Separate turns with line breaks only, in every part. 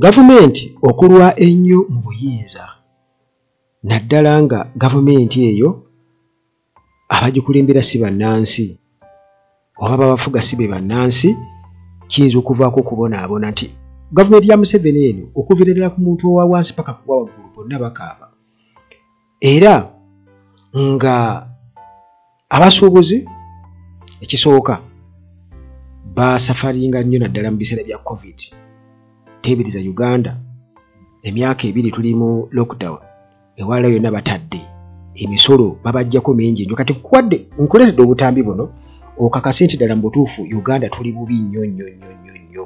Gavumenti okulwa ennyo mu buyinza naddala nga gavumenti eyo abagikulembera si bannansi oba babafuga si be bannansi kiyinza okuvaako okubonaabona nti gavumenti ya museveni eno okuviira ddala ku muntu owa wansi paka kuwa waggulu bonna bakaaba era nga abasuubuzi ekisooka basafaringa nnyo naddala mu biseera bya covid teebereza uganda emyaka ebiri tuli mu lockdown ewala yonna batadde emisolo babajjako mingi nyo kati kuwadde nkuleredde obutambi buno okakase nti ddala mu butuufu uganda tuli bubi nnyo nnyo nnyo nnyo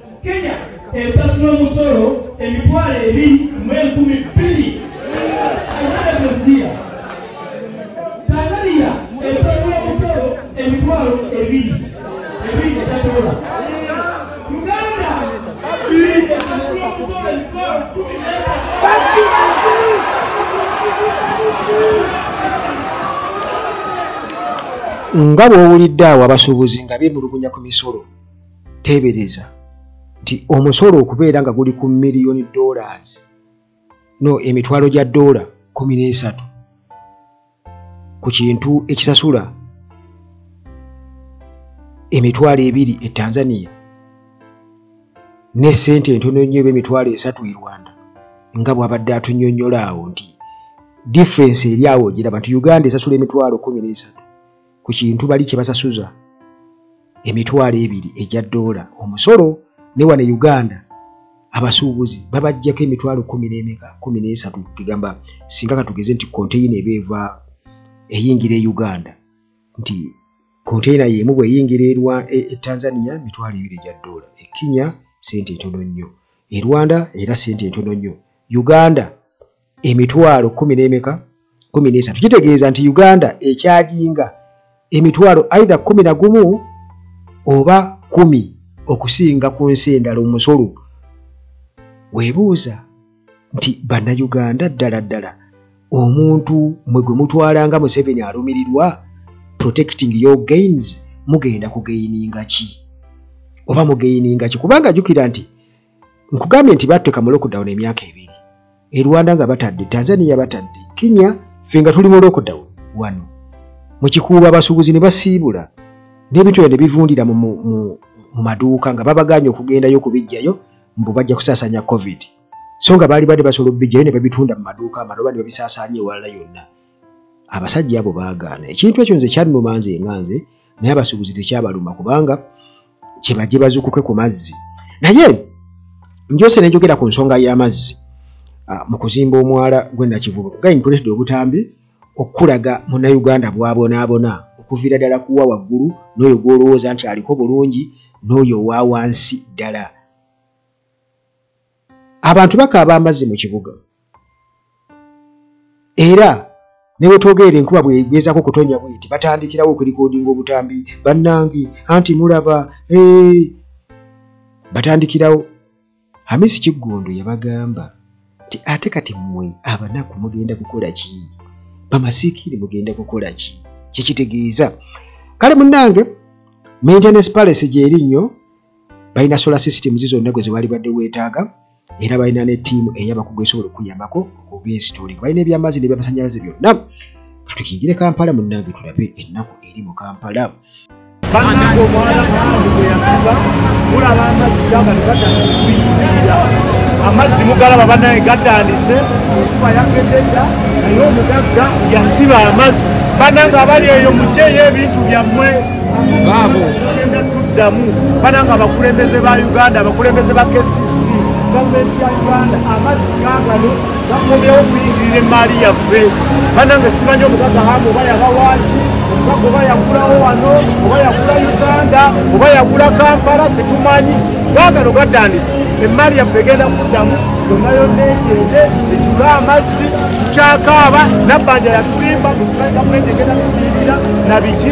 kenya esasula omusolo emitwalo ebiri mu enkumi bbiri Nga bw'owulidde
awo abasuubuzi nga beemulugunya ku misolo. teebereza nti omusolo okubeera nga guli ku miliyoni dollars no emitwalo gya doola kumi n'esatu ku kintu ekisasula emitwalo ebiri e tanzania ne ssente entono nnyo eba emitwalo esatu e rwanda nga bwabadde atunyonyola awo nti difference eri awo ogiraba nti uganda esasula emitwalo kumi n'esatu ku kintu bali kye basasuza emitwalo ebiri egya doola omusolo ne wano e uganda abasuubuzi babajjako emitwalo kumi n'emeka kumi n'esatu kigamba singa katugeze nti konteyina eba eva eyingira e uganda nti konteyina yemu bweyingira erwa e, e tanzania mitwalo ebiri egya doola e kenya sente entono nnyo e rwanda era sente entono nnyo uganda emitwalo kumi n'emeka kumi n'esatu kitegeeza nti uganda ekyajinga emitwalo aidha kumi na gumu oba kumi okusinga ku nsi endala omusolo webuuza nti bannayuganda ddala ddala omuntu mwe gwe mutwala nga museveni alumirirwa protecting your gains mugenda kugeyininga ki oba mugeyininga ki kubanga jukira nti nkugambye nti batteeka mu lockdown emyaka ebiri e rwanda nga batadde tanzania batadde kenya ffe nga tuli mu lockdown wano mukikuuba abasuubuzi ne basiibula n'ebintu ebyo ne bivundira mu maduuka nga babagaanye okugendayo okubijjayo mbu bajja kusaasanya covid so nga baali badde basobola obubijjayo ne babitunda mu maduuka amaloba ne babisaasaanya ewalala yonna abasajja abo baagaana ekintu ekyo nze kyannuma nze nga nze naye abasuubuzi tekyabaluma kubanga kyebaje bazukuke ku mazzi naye njose nenjogera ku nsonga y'amazzi ah, mu kuzimba omwala gwenakivubo nga nkuletedde obutambi okukulaga munnayuganda bwabonaabona okuviira ddala kuwa waggulu n'oyo gw'olowooza nti aliko bulungi n'oyo owa wansi ddala abantu bakaaba amazzi mu kibuga era ne bwe twogerera enkuba bwegezaako okutonya bweti batandikirawo okulikodinga obutambi bannange anti mulaba batandikirawo hamisi kiggundu yabagamba nti ate kati mmwe abanaku mugenda kukola ki bamasikiiri mugenda kukola ki kyekitegeeza kale munnange maintenance palace gyeri nnyo balina solar systems zonna gwe zebaali badde weetaaga era balina ne ttiimu eyabakugu esobola okuyambako okubinsitoolinga balina ebyamazzi nebyamasanyalaze byonna katukingire kampala munnange tulabe ennaku eri mu kampala banange omwana mwange
gweyasiba mulaba amazzi gamba negatandikuyingira amazzi mugalaba banaye gatandise okuba yakededda naye omugagga yasiba amazzi banange abali eyo mujeyo ebintu byammwe tuddamu bananga abakulembeze ba uganda abakulembeze ba kcc gavumenti ya uganda amazzi gagano gakomyewo okuyingirira emaali yaffe banange simanyi omugaga hamu oba yabawaaki omugaga oba yagulawo wano oba yagula uganda oba yagula kampala situmanyi gagano gatandise emaali yaffe egenda kuddamu yonna yonna egende ejula amazzi tukyakaaba nabbanja yatulimba musimanyi gavumenti egenda kuyingirira nabiki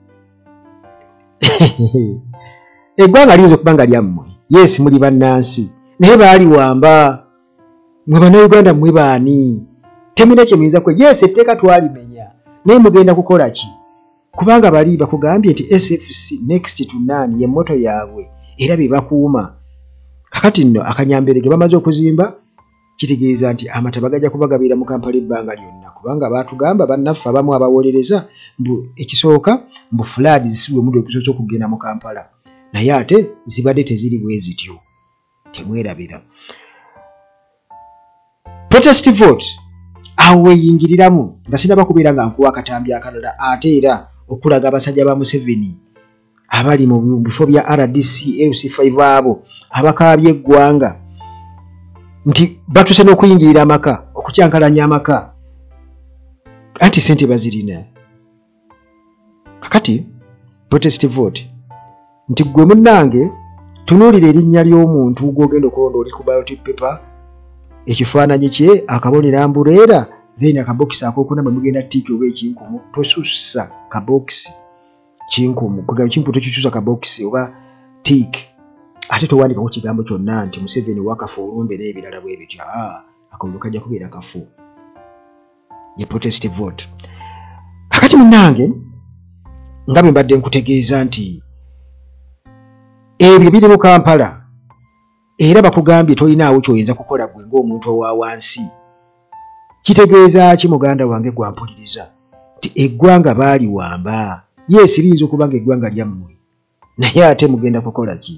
eggwanga liyinza okuba nga lyammwe yes muli bannansi naye baali wamba mwe bannayuganda mwe baani temulina kye muyinza kwe yes etteeka twalimenya naye mugenda kukola ki kubanga bali bakugambye nti sfc next to none ye moto yaabwe era be bakuuma kakati nno akanyamberege bamaze okuzimba kitegeeza nti amataba gajja kubagabiira mu kampala ebbanga lyonna kubanga baatugamba bannaffe abamu abawolereza mbu ekisooka mbu fulaadi zisibwe mudu ekisoose okugenda mu kampala naye ate zibadde teziri bwe zityo temwerabira protest vote awo weyingiriramu nga sinaba kubeera nga nkuwa akatambi akalala ate era okulaga abasajja ba museveni abali mu bifo bya rdc lc 5 abo abakaabye eggwanga nti batuse n'okuyingirira amaka okukyankalanya amaka anti sente bazirina kakati protest vote nti gwe munnange tunuulira erinnya ly'omuntu gwogenda okulonda oli ku biotic paper ekifaananyi kye akabonera mbureera then akabokisi akokuna bwe mugenda tiiki oba ekinkumu tosussa kabokisi kinkumu kwegamba kinkumu tekikyusa kabokisi oba tik ate towandikako kigambo kyonna nti museveni wakafu olumbe n'ebirala bwe bityo ah, akalulu kajja kubeera kafu ye protest vote kakati munnange nga bwe mbadde nkutegeeza nti ebyo biri mu kampala era bakugambye tolinaawo kyoyinza kukola gwe ngaomuntu owa wansi kitegeeza ki muganda wange gwampuliriza nti eggwanga baaliwamba yes liyinza okuba nga eggwanga lyammwe naye ate mugenda kukola ki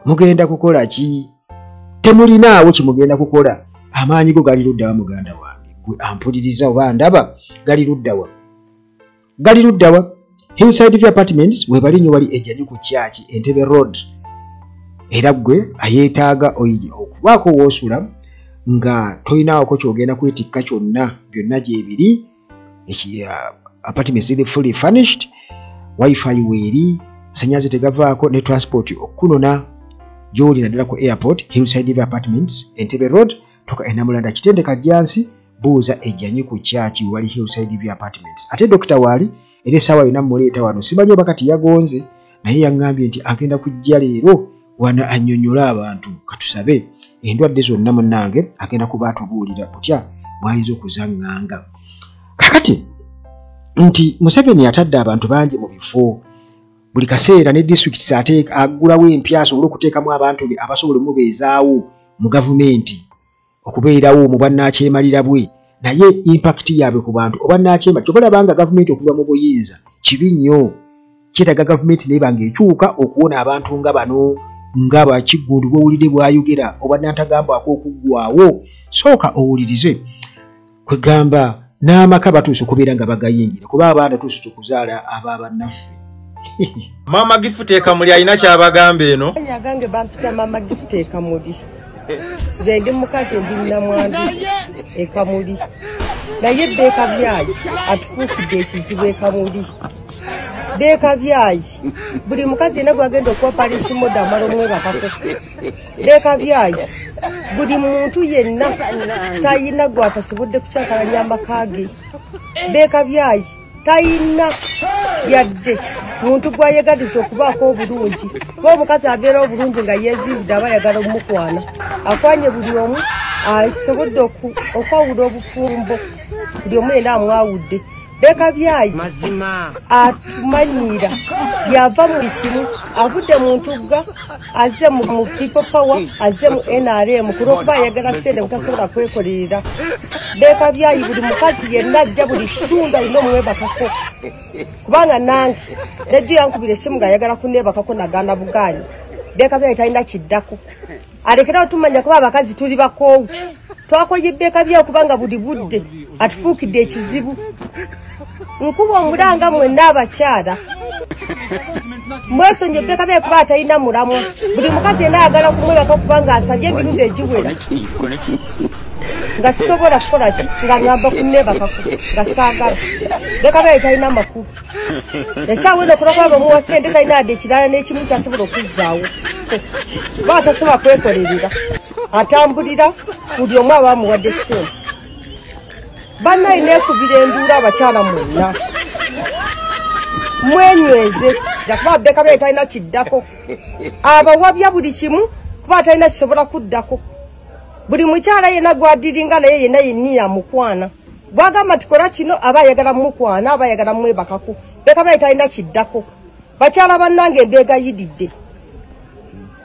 mugenda kukola ki temulinaawo kyemugenda kukola amaanyi go gali luddawa muganda wange gwe ampuliriza oba ndaba gali luddawa gali luddawa hillside view apartments webali nnyo wali ejanyu ku kyaki entebe road era gwe ayeetaaga okubaako woosula nga tolinaawoko kyogenda kwetikka kyonna byonna gyebiri uh, apartments ziri fully furnished wifi weeri asanyaze tegavaako ne transport okukunona gyoli naddala ku airport hillside view apartments entebe road tuka enamulanda kitendeka jansi buuza ejanyi ku kyaki wali hillside view apartments ate dokita waali era esaawa yona muleeta wano simanyi oba kati yagonze naye yaŋŋambye nti agenda kujja leero wano annyonnyole abantu katusabe endwadde zonna munnange agenda kuba atubuulira butya bwayinza okuzaŋŋanga kakati nti museveni atadde abantu bangi mu bifo buli kaseera ne disitulikiti ateeka aggulawo empya asobole okuteekamu abantu be abasobola omubeezaawo mu gavumenti okubeerawo mu bwannakyemalira bwe naye impakiti yaabwe ku bantu obwannakyemali kyoba olabanga gavumenti okuva mu buyinza kibi nnyo kyetaaga gavumenti naye banga ekyuka okuwona abantu nga bano nga bakiggundu bwowulidde bwayogera obwannantagambwako okuggwawo sooka owulirize kwegamba n'amaka batuuse okubeera nga bagayingira kuba abaana tuuse tukuzaala aba bannaffe
maama gifuteeka muli alina kyabagamba eno agange bampita
maama gifuteeka muli nze ndi mukazi ndi namwandu ekamuli naye bbeeka byayi atufuukidde ekizibu ekamuli bbeeka byayi buli mukazi yena gwagenda okuwa palishimoda amala omwebakako leka byayi buli muntu yenna tayina gwatasibudde kukyakala lyambakage beeka byayi tayina yadde muntu gwayegadiza okubaako obulungi ba omukazi abeera obulungi nga yeziivudde aba ayagala omukwana akwanye buli omu asobodde okwawula obufumbo buli omu yena amwawudde leka byayi atumanyiira yava mu kimu avudde mu ntugga azze mu people power azze mu nrm ku lwokuba ayagala sente butasobola kwekolerera leka byayi buli mukazi yenna ajja buli kitundu alina omwebakako kubanga nange nejjo yankubira essimu nga ayagala kunebakako nagana bugaanyi leka byayi talina kiddako alekerawo tumanya kuba abakazi tuli bakoowu twakoye ebbeeka byawo kubanga buli budde atufuukidde ekizibu nkuba omulanga mwenna abakyala mwesonyi ebbeeka byayo kuba atalina mulamwa buli mukazi yena ayagala kumwebaka kubanga asabye emirundi egiwera nga sisobola kukolaki nga ngamba kunebakaku nga saagala bbeeka byayo talina makulu esaawa eno kuba kwaba omuwa sente talina ade ekirala n'ekimu kyasobola okuzzaawo kuba atasobola kwekolerera atambulira buli omu aba amuwadde sente banna alina ekubira enduula abakyala mwonna mwenyweze jakuba abeka bee talina kiddako abawabya buli kimu kuba atalina kisobola kuddako buli mukyala yenna gwadiringa naye yenna yenniya mukwana bwagamba tikola kino aba ayagala mukwana aba ayagala mwebakako leka baye talina kiddako bakyala bannange mbeegayididde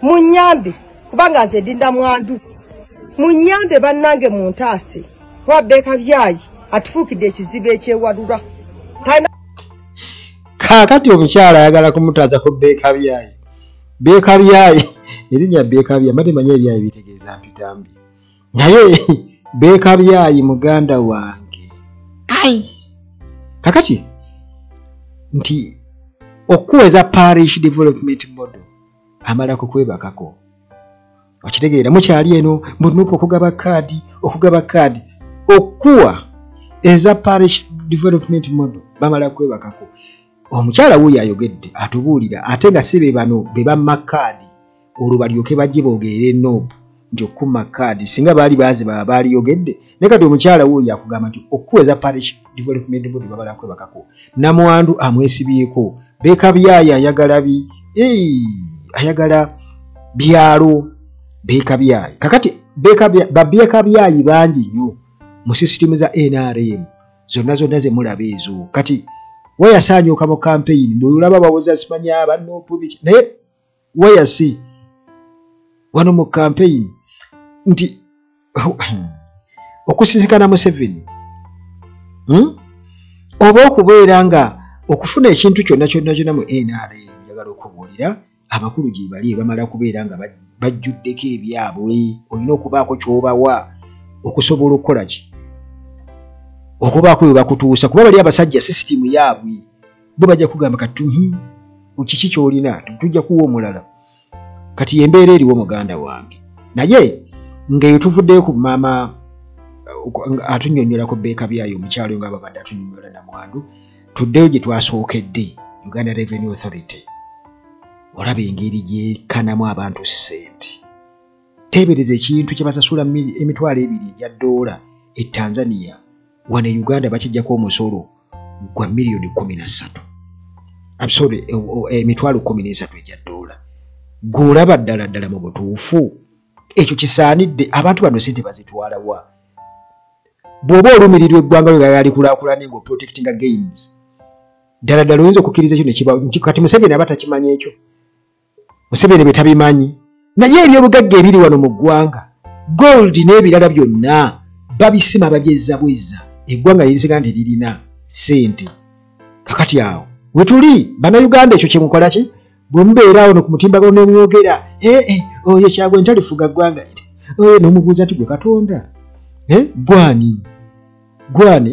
munyambe kubanga nze ndinda mwandu munyambe bannange mu ntaasi kuba beeka byayi atufuukidde ekizibu ekyewalula
kaakati omukyala ayagala kumutaaza ku beeka byayi beeka byayi erinnya beeka byayi mbatemanya ebyayi bitegeeza mpitambi naye beekabyayi muganda wange ai kakati nti okuweza parish development model amala kukwebakako okitegeera mukyali eno munupu okugaba kaadi okugaba kaadi okuwa eza parish development model bamala kwebakako omukyala wuyo ayogedde atubuulira ate nga si be bano be bamma kaadi olwo balyoke bajje boogerere nob nti okukuma kaadi singa baali baazi baba baaliyogedde naye kati omukyala wo yakugamba nti okukuweza parish development board babala kwebakako namwandu amwesibyeko beekabyaayo ayagala bi ayagala byalo beekabyaayo kakati babeekabyaayi bangi nnyo mu sisitimu za nrm zonna zonna ze mulaba ezo kati wayasaanyuuka mu kampeyini bweolaba bawoza simanya bannopu biki naye wayase wano mu kampeyini nti okusisikana museveni hmm? oba okubeera nga okufuna ekintu kyonna kyonna kyonna mu nra njagala okubuulira abakulu gyebali ebamala kubeera nga bajjuddeko ebyabwe olina okubaako kyobawa okusobola okukola ki okubaako webakutuusa kuba bali abasajja sisitimu yaabwe bo bajja kugamba kati hmm, kiki kyolina tujja kuwa omulala kati yembeera eriwo muganda wange naye ngaeyo tuvuddeyo ku maama uh, atunyonyolako beeka byayo omukyalo nga babadde atunyonyola namwandu tuddeyo gye twasookedde uganda revenue authority olaba engeri gyekanamu abantu ssente teebereza ekintu kyebasasula emitwalo ebiri egya doola e tanzania wano e uganda bakijjako omusolo gwa miliyoni kumi nassatu absore e, e, emitwalo kumi n'esatu egya doola gweolaba ddala ddala mu butuufu ekyo kisaanidde abantu bano sente bazitwalawa bw'oba olumirirwa eggwanga lyo gayali kulaakulane nga oprotectinga games ddala ddala oyinza okukkiriza ekyo nekibakati museveni aba takimanyi ekyo museveni bwe tabimanyi naye ebyobugagga ebiri wano mu ggwanga gold n'ebirala byonna babisima bagyezza bwezza eggwanga lirisinga nti lirina ssente kakati awo wetuli bannayuganda ekyo kyemukola ki bwe mubeera awo no ku mutimbagano ne mwogera ee eh, eh, oyo kyagwe ntalifuga ggwanga liri oyo nomubuuza nti gwe katonda eh, gwani gwani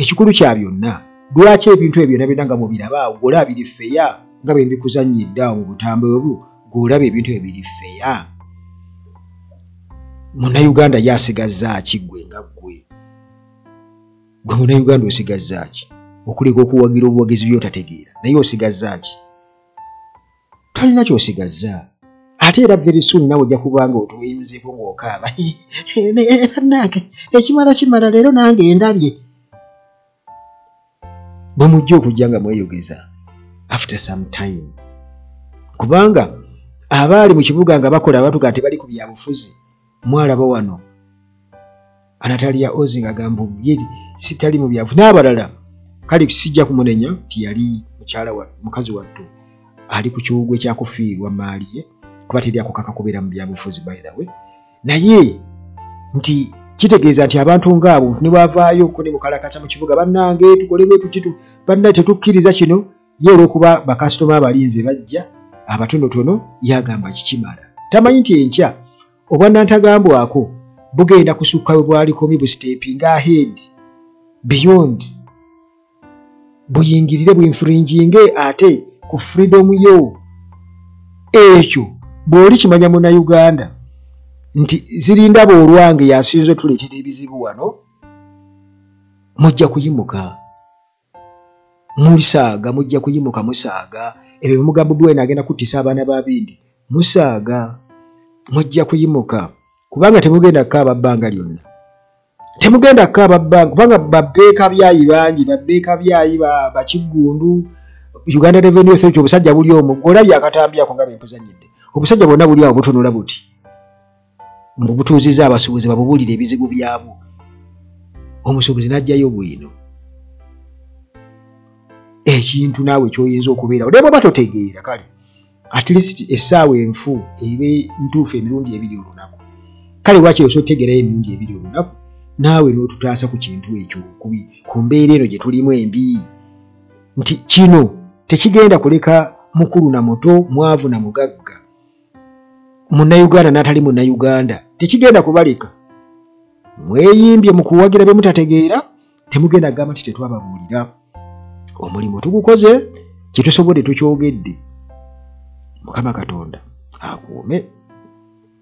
ekikulu kya byonna lwaki ebintu ebyo byonna byonna nga mubiraba awo gwola abiri feya nga bwe mbikuzannyidde awo mu butambe obwo gweolaba ebintu ebyo biri feya munauganda ye asigazaaki gwe nga gwe gwe munauganda osigazaaki okuleka okuwagira obuwagizi byotategeera naye osigazaaki tolina kyosigazza ate era very soon nawe ojja kuba nga otuweyimuzeko ng'okaaba banange ekimala kimala leero nange endabye bwe mujja okujja nga mweyogeza after some time kubanga abaali mu kibuga nga bakola abatuga nti bali ku byabufuzi mwalaba wano anatalia ozing agamba ye sitali mu byavu n'abalala kale sijja kumunenya nti yali mukyala wa mukazi wattu ali ku kiwugwe kyakufiirwa maali ye kuba teri akukaka kubeera mu byabufuzi by the way naye nti kitegeeza nti abantu ngaabo nebwavaayo ko nemukalakasa mu kibuga bannange tukole bwetukitu banna tetukkiriza kino ye olwokuba bakasitoma abalinze bajja abatonotono yagamba kikimala tamanyi nti enkya obwanantagambwako bugenda kusukka we bwalikomi bustepinga ahead beyond buyingirire bwinfringinge ate ku freedom yo ekyo bw'oli kimanya munauganda nti zirinda boolwange yasinza otuleetera ebizibu wano mujja kuyimuka musaaga mujja kuyimuka musaaga ebyo bimugambo biwena agenda kuttisa abaana ba bindi musaaga mujja kuyimuka kubanga temugenda kukaaba bbanga lyonna temugenda kukaaba bbanga kubanga babbeeka byayi bangi babbeeka byayi bakiggundu uganda revenue authority obusajja buli omu olabye akatambi ako nga bempuzanyidde obusajja bwonna buli awo butunula buti mbu butuuzizza abasuubuzi babubuulire ebizibu byabwo omusuubuzi n'ajjayo bwino ekintu naawe kyoyinza okubeera odemu oba totegeera kale at least essaawa enfu ebe ntuufu emirundi ebiri olunaku kale lwaki osa otegerayo emirundi ebiri olunaku naawe n'otutaasa ku kintu ekyo kubi ku mbeera eno gye tulimu embi nti kino tekigenda kuleka mukulu na muto mwavu na mugagga munnayuganda n'atali munnayuganda tekigenda kubaleka mweyimbye mu kuwagira bye mutategeera temugenda kugamba nti tetwababuulira omulimu tugukoze kyetusobodde tukyogedde mukama katonda akuume